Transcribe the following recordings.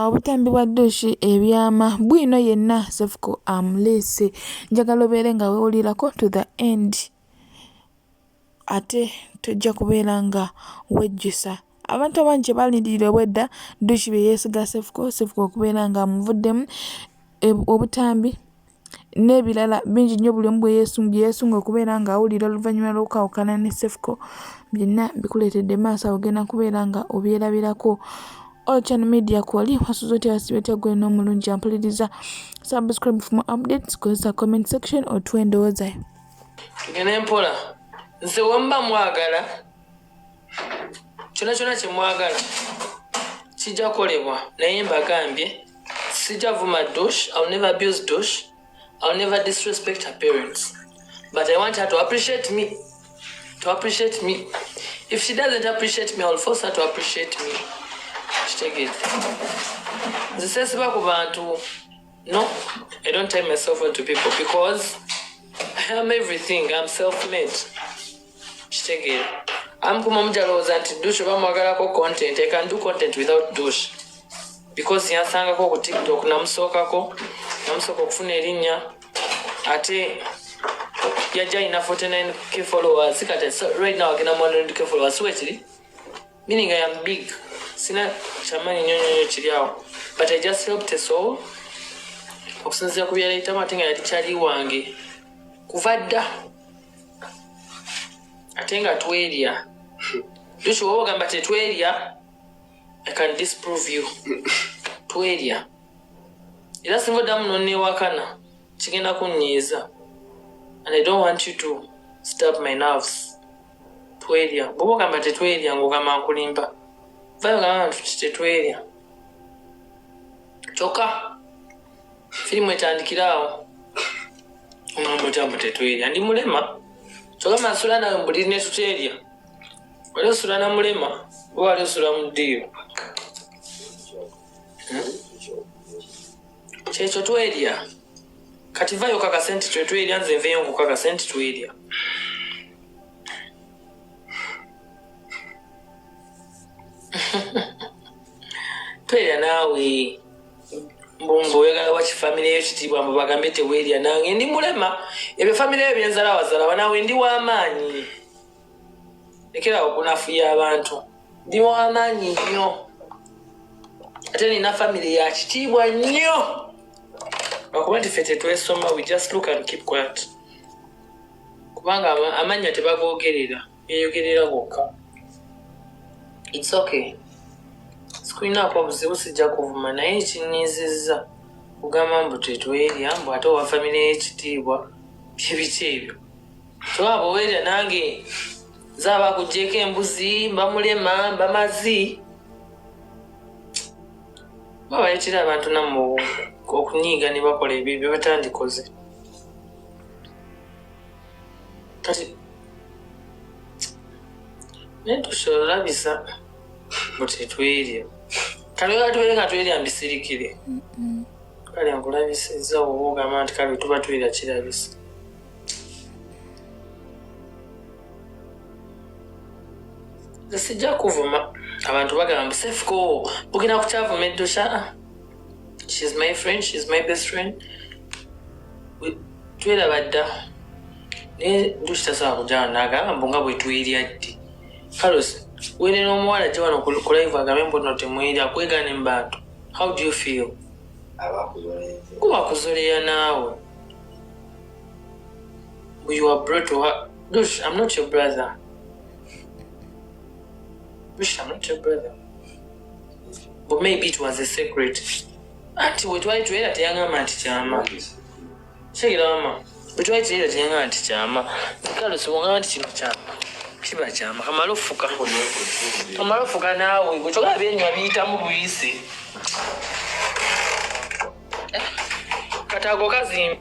Obutambi bwa dduushi ebyama bwino yenna Cephco amuleese. Njagala obeere nga weewulirako to the end ate tojja kubeera nga wejjusa. Abantu abangi kye baalindirira obwedda dduushi bye yeesiga Cephco, Cephco okubeera ng'amuvuddemu e, obutambi n'ebirala bingi nnyo buli omu bwe yeesunga okubeera ng'awulira oluvannyuma lw'okwawukana ne Cephco byonna bikuleetedde maaso awo ogenda kubeera nga obyerabirako Ocean Media kwoli wasuze otya wasibe otya gwe n'omulungi ampuliriza subscribe for more updates kozesa comment section otuwa endowooza yo tugende mpola nze wemba mwagala kyona kyona kyemwagala kijja kolebwa naye mbagambye sijja vuma dosh ill never abuse dosh ill never disrespect her parents but i want her to appreciate me to appreciate me if she doesn't appreciate me ill force her to appreciate me kitegere nzisesiba ku bantu no i don't time myself on to people because i am everything im self made kitegeera amukuma omujalowooza nti dush oba mwagalako content i can do content without dush because yansangako ku tiktok namusookako namusooka okufuna erinnya ate yajja alina 49 k followers kati right now agenda mu 100 k followers siwe kiri meaning i am big sina kyamanyi nyo nyonyo kiri awo but i just helped a soul okusinzira ku byeyayitamu ate nga yali kyali wange kuva dda ate nga twerya tukiwa ogamba tetwerya i can disprove you twerya era singa oddamu nonewakana kigenda kunyiiza and i don't want you to stab my nerves twerya bwoba ogamba tetwerya ngaogamba nkulimba vayo gamba nti tetwerya kyokka firimu etandikira awo omwamba otya mbu tetwerya ndi mulema kyoka masula nawe mbuli netuterya wali osula na mulema oba wali osula mu ddiiro hmm? kyekyo twerya kati vayo kakase nti twetwerya nze nveyo nkukakase nti twerya twerya naawe mbumba oyagala waki famire yo kitiibwa mbu bagambe teweerya nange ndi mulema ebyo famire yo byenzala wazala banawe ndi w'amaanyi lekerawo okunafuya abantu ndi w'amaanyi nnyo ate nina famire ya kitiibwa nnyo lwakuba nti fe tetwesoma we just look and keep quiet kubanga amannya tebagogerera beyogerera bokka its okay sikulinaako buzibu sijja kuvuma naye ekinyiizizza kugamba mbu tetwerya mbu ate owa famire y'ekitiibwa byebiki ebyo tewaba owerya nange zaba kugyeko embuzi mbamulema mbamazi babaletera abantu namu okunyiiga ne bakola ebyo byebatandikoze kati naye tusolabisa mbu tetwerya kale oba tubeere nga twerya mbisirikire kale nkulabisiza oba ogamba nti kale tuba twera kirabisa sijja kuvuma abantu bagamba sefuko ogenda kukyavuma eddusha she's my friend she's my best friend twelaba dda naye ndukitasaba kujana nagamba mbu nga bwetwirya ddi carlos wenena omuwala gye wano kulaivu agambe mbu no temwirya kwegana embantu how do you feel kuba kuzoleya naawe you are brought to her dush i'm not your brother dush i'm not your brother but maybe it was a secret anti wetwali tuera teyangamba nti kyama kigirama wetwali tuera teyangamba nti kyama kale sibongamba nti kino kyama kiba kyama kamala ofuka kamala ofuka naawe wekyoga byenywa biyitamu buyisi eh, katago kazimbi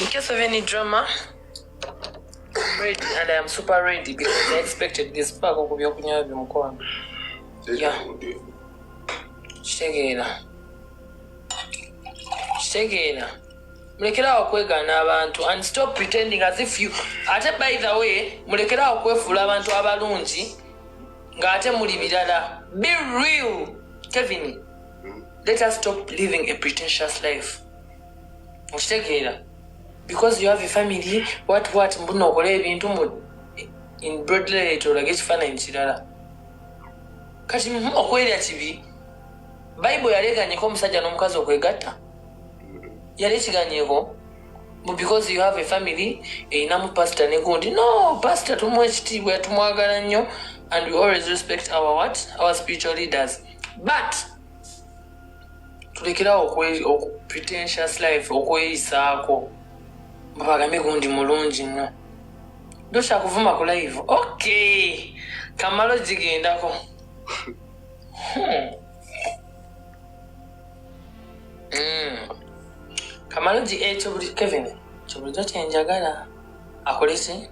In case of any drama, I'm ready and I am super ready because I expected this pack of byokunywa byomukwano. Yeah. Kitegeera. Kitegeera. Mulekeraawo kwegaana abantu and stop pretending as if you ate by the way mulekeraawo kwefuula abantu abalungi ng'ate muli birala. Be real, Kevin. Hmm? Let us stop living a pretentious life. okitegeera because you have a family what what mbuna okola ebintu mu in broadlight olage ekifaananyi kirala kati mhm, okwerya kibi bayibuli yaleganyeko omusajja n'omukazi okwegatta yali ekiganyeko because you have a family erinamu pasita negundi no pasita tumuwa ekitiibwa tumwagala nnyo and we always respect our what our spiritual leaders but tulekerawo pretentious life okweyisaako babagambe gundi mulungi nnyo dokyakuvuma ku live ok kamalo gigendako hmm. hmm. kamalo gi ekyo eh, buli kevin kyo bulijo kyenjagala akoleki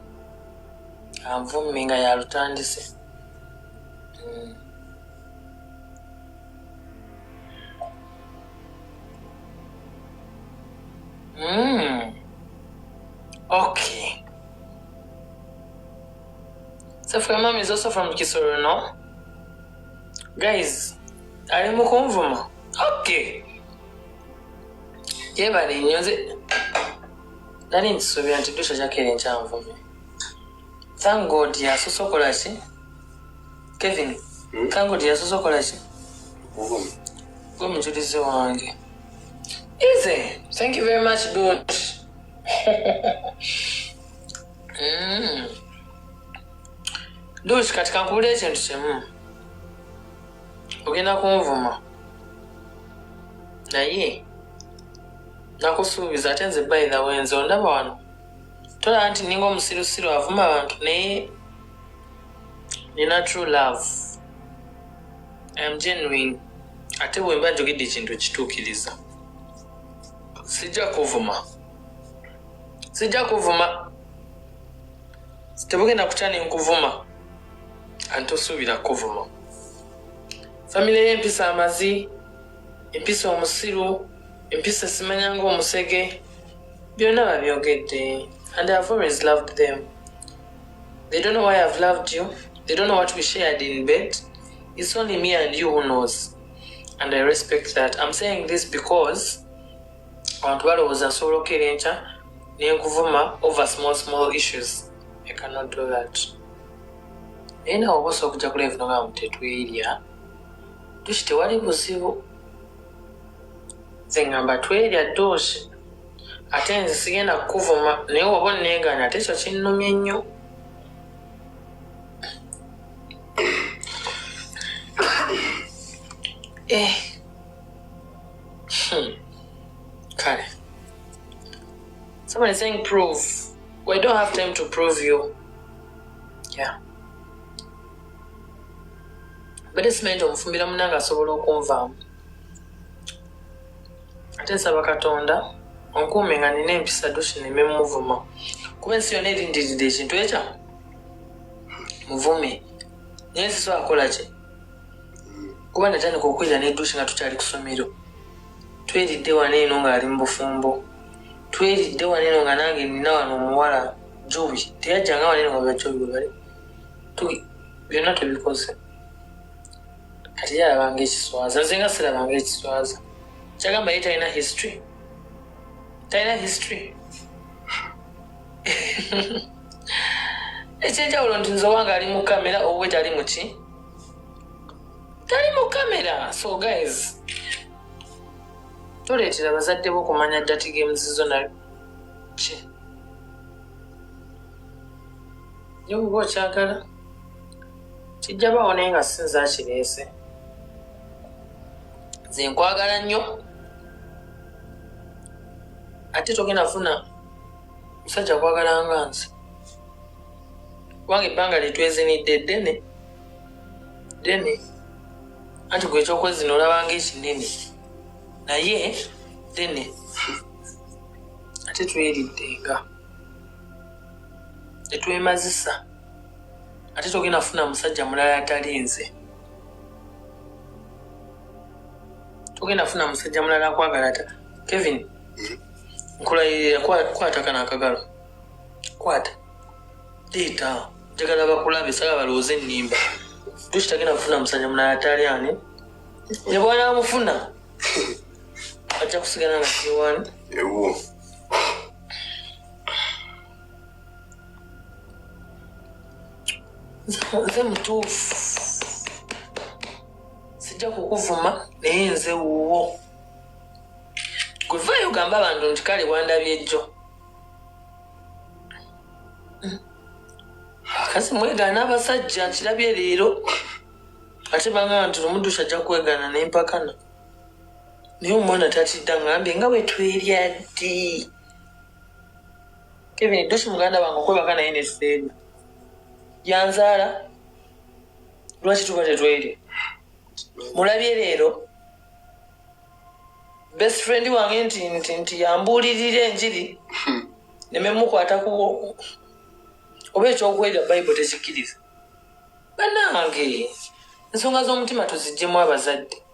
anvummi nga yalutandise hmm. Mm. Okay. So for mom is also from Kisoro, no? Guys, are you Mukumvuma? Okay. Yebale nnyo nze nali nkisuubira nti dusha kyakere nkyanvumye thank god yasosokola ki kevin hmm? kangoti yasoose okola ki gwe mujulizi wange ize thank you very much dot hmm. dot kati kankubula ekintu kimu ogenda kunvuma naye nakusuubiza ate nze by the way nze ondaba wano tolaba nti ninga omusirusiru avuma abantu naye nina true love am genuine ate bwemba njogedde ekintu kituukiriza sijja kuvuma sijja kuvuma tebugenda kutya nenkuvuma antosuubira kuvuma famire y'empisa amazi empisa omusiru empisa simanya ngaomusege byonna babyogedde and ihave always loved them They don't know why I've loved you. They don't know what we shared in bed. It's only me and you who knows. And I respect that. I'm saying this because abantu balowooza nsobola okukera enkya nenkuvuma over small small issues i cannot do that naye nawe oba osobola okujja kulaivu nogamu tetwerya tuki tewali buzibu nze ngamba twerya doosi ate nze sigenda kukuvuma naye waba oneegaana ate ekyo kinnumye nnyo eh. hmm. kale someone is saying prove we don't have time to prove you yeah bade simanyi nti omufumbira munange asobola okunvaamu ate nsaba katonda onkuume nga nina empisa dusineme muvuma kuba ensi yona erindiride ekintu ekya muvume naye siso akolaki kuba natandika okwera nedusi nga tukyali kusomero tweridde wana eno ngaali mubufumbo tweridde wana eno nga nange nina wano omuwala jobi teyajjanga wana eno nga bajobi webali byonna tubikoze kati yalabanga ekiswaza nze nga sirabanga ekiswaza kyagamba ye talina history talina history ekyenjawulo nti nze owanga ali mu kamera owe tali muki tali mu kamera so guys toleetera bazadde bo okumanya dati games zo naki naye oba okyagala kijja bawo naye nga sinza kireese nze nkwagala nnyo ate togenda funa musajja kwagala nga nze kubanga ebbanga lyetwezinidde ddene ddene anti gwe ekyokwezina olabanga ekinene naye ddene ate tweridde nga tetwemazisa ate togenda funa musajja mulala atali nze togenda funa musajja mulala akwagala ta kevin mm-hmm. nkulayirira kwata kana akagalo kwata leeta njagala bakulabe sala balowooza enimba tukitagenda kufuna musajja mulala atali ani ne bwanamufuna ajja kusigala nga kiwani nze mutuufu sijja kukuvuma naye nze wuwo gwe vayo ogamba abantu nti kale wandabyejjo kasi mwegaana abasajja nkirabye leero ate bangana nti lumuddusha ajja kwegaana nempakana naye omwana tatidda ngambe nga bwetwerya ddi kevin dusi muganda wange okwebaka naye neseena yanzaala lwaki tuba tetwerya mulabye leero best friend wange nti nti nti yambuulirira enjiri hmm. nememukwata ku oba ekyokwerya bayibuli tekikkiriza banange ensonga z'omutima tuzijjemu abazadde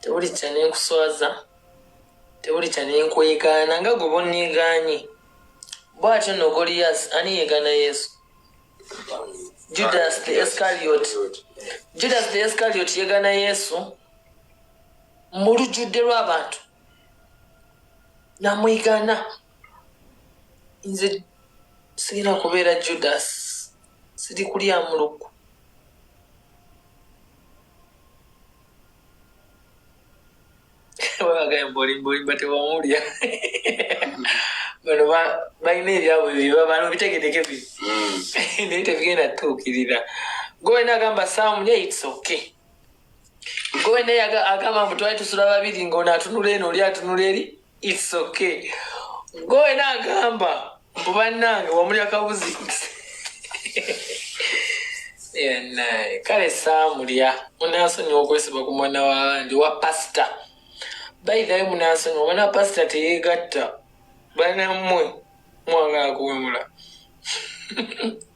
tewuli kya nenkuswaza tewuli kya nenkwegaana nga gwe bonneegaanye bw'atyo nno goliyasi ani yeegaana yesu judas the escariot judas the escariot yeegaana yesu mu lujjudde lw'abantu namwegaana nze sigenda kubeera judas siri kulyamu lukku webagaembolimbolimba tewamulya bano balina ebyabwe byebabano bitegedeke bi hmm. naye tebigenda tutuukirira gowena agamba samu naye its okay gowena agamba mbu twali tusula babiri ngaono atunula eno oli atunula eri It's okay. Goe na gamba. Mbuba nange wamuli akabuzi. Yeah, nae. Kale samulia. Munaso ni okwesiba kumwana wa ndi wa pasta. By the way munaso ni wana pasta teyegatta. Bana mwe. Mwanga kuwemula.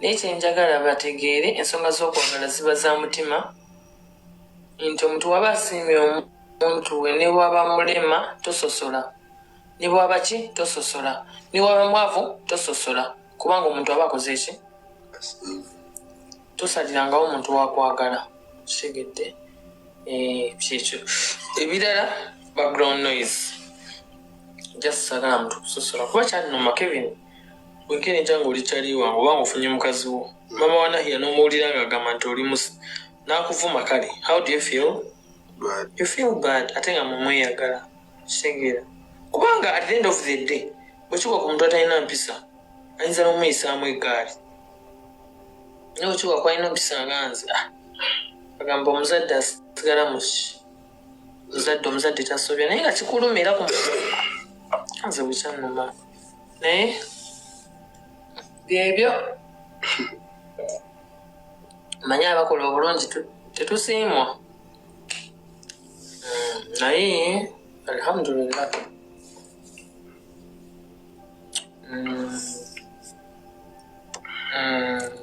naye kyenjagala bategeere ensonga z'okwagala ziba za mutima nti omuntu waba asiimye omuntu we ne waba mulema tososola ne bwaba ki tososola ne waba mwavu tososola kubanga omuntu aba akoze ki tosalirangawo omuntu wakwagala kitegedde eh, kyekyo ebirala background noise just sagala muntu kusosola kuba kyalinuma kevin bwenkeneja nga oli kyali wange oba nga ofunye mukazi wo mama wa nahiya n'omuwulira nga agamba nti oli musi n'akuvuma kale how do you feel you feel bad ate nga mumweyagala kitegeera kubanga at the end of the day bwekigwa ku muntu atalina mpisa ayinza n'omuyisaamu eggaali naye bwekigwa kwalina mpisa nga nze ah, agamba omuzadde asigala muki omuzadde omuzadde tasobya naye nga kikulumira ku nze bwekyannuma naye byebyo manye abakola obulungi tetusiimwa hmm, naye alhamdulillah hmm. Hmm.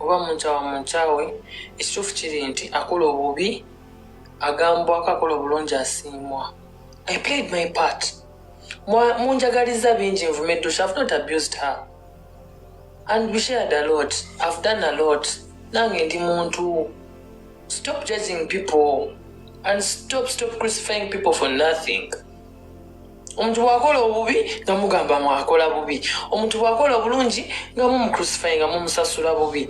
oba munkyawa munkyawe ekituufu kiri nti akola obubi agambwako akola obulungi asiimwa i played my part munjagaliza bingi nvume dusha i've not abused her and we shared a lot i've done a lot nange ndi muntu stop judging people and stop stop crucifying people for nothing omuntu bwakola obubi nga mugamba mwakola bubi omuntu bwakola obulungi nga mumucrucify nga mumusasula bubi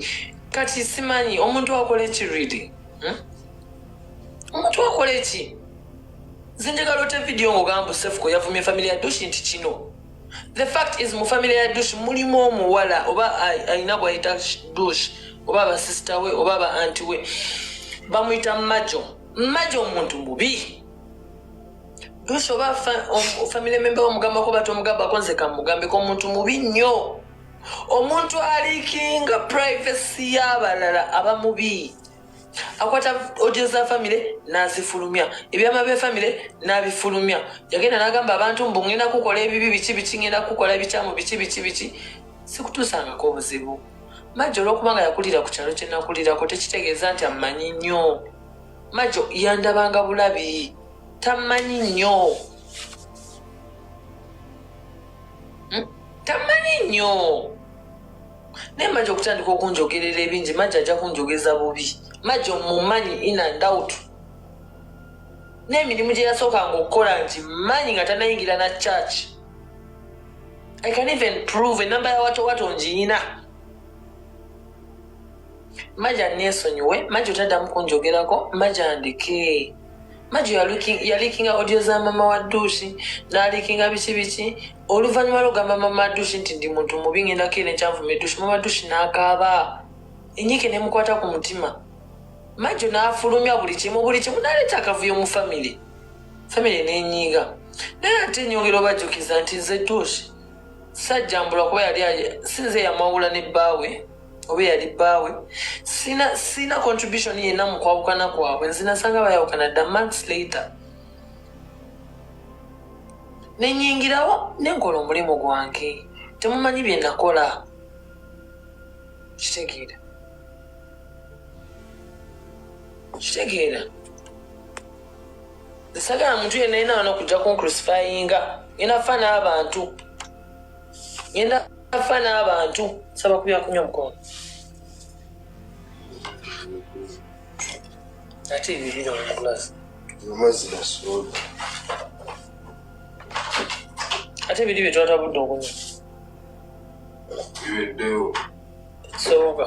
kati simanyi omuntu akola eki really hmm? omuntu akola eki nze njagala ote vidiyo ngaogamba sefuko yavumye famiry ya dushi nti kino the fact is mu famiry ya dushi mulimu omuwala oba alina bwayita dush oba abasisita we oba aba anti we bamuyita majo majo omuntu mubi lusi oba family member wamugambako batomugambako nze kamugambeko omuntu mubi nnyo omuntu alikinga privacy y'abalala aba mubi akwata odio za famire nazifulumya ebyama bya famire nabifulumya yagenda nagamba abantu mbu ngenda kukola ebibi biki biki ngenda kukola ebikyamu biki biki biki sikutuusangako obuzibu majja olwokuba nga yakulira ku kyalo kyenakulirako tekitegeeza nti amanyi nnyo majo yandabanga bulabi tamanyi nnyo hmm? tamanyi nnyo naye majo okutandika okunjogerera ebingi majo ajja kunjogeza bubi majo mumanyi inandawutu n'emirimu gye yasookanga okukola nti manyi nga tanayingira na church i can even prove enamba yawatowato ngiyina maja nesonyiwe maja otaddamu kunjogerako maja ndeke maja yalikinga audio za mama wa duusi nalikinga biki biki oluvannyuma lwogamba mama duusi nti ndi muntu mubi ngendako era enkyanvuma eduusi mama duusi nakaaba enyike nemukwata ku mutima majo nafulumya buli kimu buli kimu naleeta akavuyo mu famire famire nenyiiga naye ate nyongera obajukiza nti nze duusi sajjambula kuba yali sinze yamwawula ne bbaawe oba eyali bbaawe sirina contribution yenna mu kwawukana kwabwe nzinasanga bayawukana dda months later nenyingirawo nenkola omulimu gwange temumanyi bye nakola kitegeera kitegeera nsagala muntu yenna yena wano kujja kuncrucifyinga ngenda fa n'abantu ngenda afa n'abantu saba kubyakunya omukono ate ebibiri omukulasi amazzi nasoda ate ebiri bye twatabudde okunya biweddewo soboka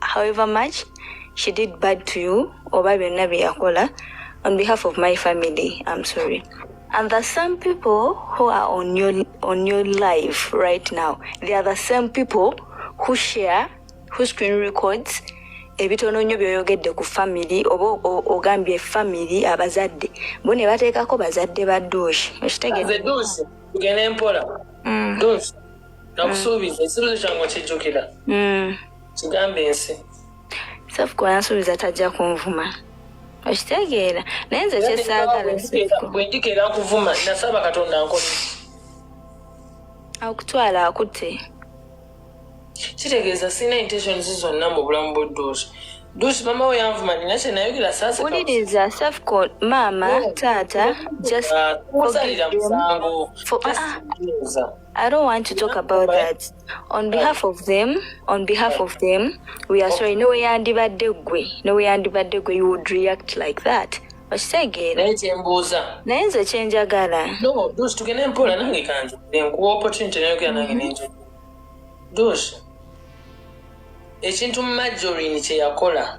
however much she did bad to you oba byonna bye yakola on behalf of my family i'm sorry and the same people who are on your, on your life right now they are the same people who share who screen records ebitono nnyo byoyogedde ku famiry oba ogambye famiry abazadde bo ne bateekako bazadde ba duushi okitegedempola mm. duushi nakusuubiza ekibuzo kyange okijjukira mm. kigambe ensi safuko yansuubiza tajja kunvuma okitegeera naye nze kyesaagala bwendikeera nkuvuma nasaba katonda nkole akutwala akutte kitegeeza sirina intentions zonna mu bulamu bwedduusi duusi mama we yanvuma nina kyenayogera sasawuliriza safuko maama taata ah, ah. I don't want to talk about that. On behalf of them, on behalf of them, we are sorry. No way yandibadde gwe. No way yandibadde gwe. You would react like that. okitegeera naye kyembuuza naye nze kyenjagala no dos tugende mpola nange kange nkuwa opportunity nayogera nange mm-hmm. nenjo dos ekintu majorin kyeyakola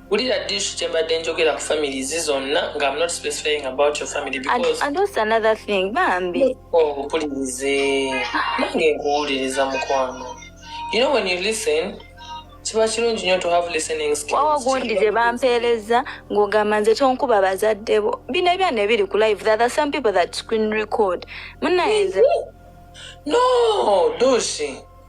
wulira dishu kyembadde njogera ku family zi zonna nga am not specifying about your family because and also another thing bambi obupulirize oh, nange nkuwuliriza mukwano you know when you listen kiba kirungi nyo to have listening skills wawa gundi gye bampeereza ng'ogamba nze tonkuba bazadde bo bino ebyana ebiri ku live that are some people that screen record munayenze no doshi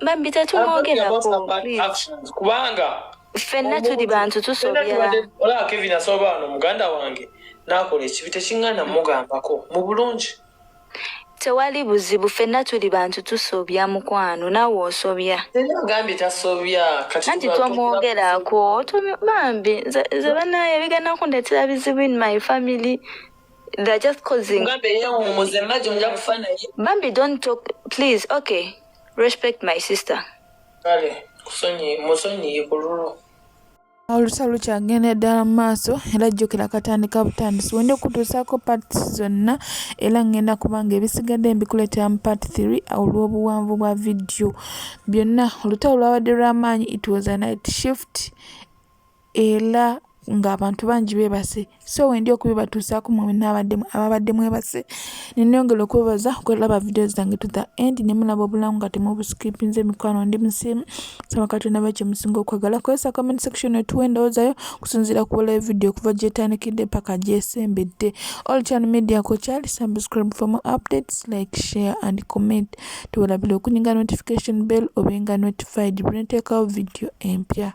bambi tetumwogerako kubanga ffenna tuli bantu tusobyolaba kevin asoba wano muganda wange nakola ekibi tekiŋŋana mugambako mu bulungi tewali buzibu ffenna tuli bantu tusobya mukwano nawe osobya agambye tasobya anti twamwogerako bambi nze banaye bigenda kundetera bizibu in my family they're just causing bambi don't talk please okay respect my sister kale kusonyi musonyi yikululu olutalo lukyagenda ddala mu maaso era jjukira katandika butandisi wenda okutuusaako parts zonna era ngenda kubanga ebisigadde mbikuleetera mu part 3 olw'obuwanvu bwa vidiyo byonna olutalo lwabadde lw'amaanyi it was a night shift ela nga abantu bangi bebase so wendi okubibatuusaako mwe nabaddemu ababadde mwebase neneyongera okwebaza okulaba video zange to the end nemulaba obulamu nga temubuskipinze mikwano ndi musiimu saba katonda ba kyemusinga okwagala kozesa comment section etuwa endowoozayo okusinziira ku bulayo video okuva gyetandikidde paka gyesembedde all chan media ko kyali subscribe for more updates like share and comment tubalabira okunyiga notification bell obenga notified buli nteekawo video empya